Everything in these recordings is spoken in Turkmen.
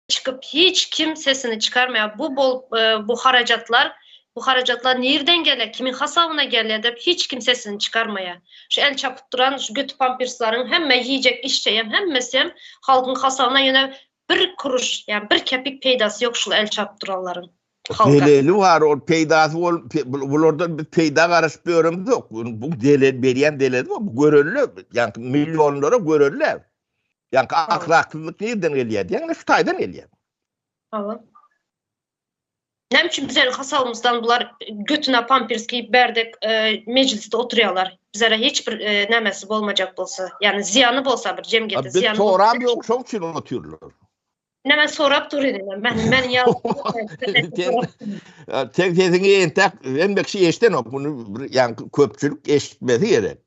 çykyp hiç kim sesini çykarmaýar bu bolup bu harajatlar bu harajatlar nirden gelýär kimiň hasabyna gelýär dep hiç kim sesini çykarmaýar şu el çapyp duran şu göti pamperslaryň hemme iýjek içjeýem hemmesem halkyň hasabyna ýöne bir kuruş ýa bir kepik peýdasy ýok şul el çapyp duranlaryň halka. Deleli bar ol peýdasy bol bulardan biz peýda garaşyp ýöremizok bu delel berýän deleli bar bu görenler ýaňky millionlara görenler Ýaňky ahlaksyzlyk nirden gelýär diýýän, indi Hytaýdan gelýär. Hawa. Näme üçin bize hasabymyzdan bular götüne pampers giýip berdek e, mejlisde oturýarlar? Bizlere hiç bir e, nämesi bolmajak bolsa, ýagny zyýany bolsa bir jemgyýete Biz zyýany. soram ýok, şoň üçin otyrlar. Näme sorap dur indi men men men ýa Sen sesiňi entek hemmeki eşdenok, muny bir ýaňky köpçülik eşitmesi gerek.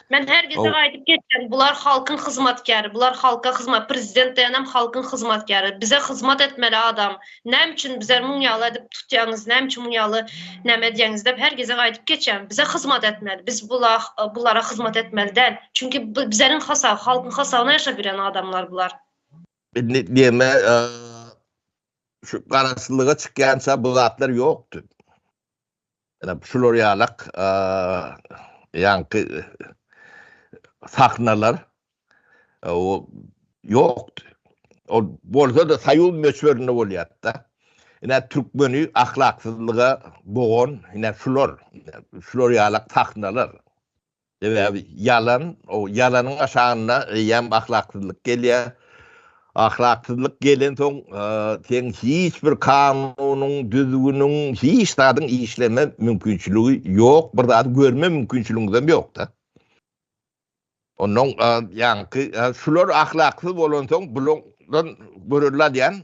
Men her gezek aýdyp geçýän, bular halkyň hyzmatkäri, bular halka hyzmat, prezident diýenem halkyň hyzmatkäri, bize hyzmat etmeli adam, näme üçin bize muň ýaly edip tutýaňyz, näme üçin muň ýaly näme edýäňiz diýip her gezek aýdyp geçýän. Bize hyzmat etmeli, biz bular bulara hyzmat etmeli däl. Çünki bu bizeniň hasap, halkyň hasabyna ýaşap ýören adamlar bular. Indi diýme, şu garaşsyzlyga çykýança bu zatlar ýokdy. Şular ýalak ýaňky sahnalar ýokdy. Ol bolsa-da soýuz möçberinde bolýardy-da. Ine türkmeni ahlaksyzlyga bogan ine şular. Şular ýalak sahnalar. Sebäbi ýalan, o ýalanyň aşagynda eýýäm ahlaksyzlyk gelýär. Ahlaksyzlyk gelensoň, seň hiç bir kanunyň, düzgüniň, hiç zadyň işleme mümkinçiligi ýok, bir zady görme mümkinçiligiňiz hem ýok-da. Onnoň ýaňky, şular ahlaksyz bolansoň, bulardan görelde alýan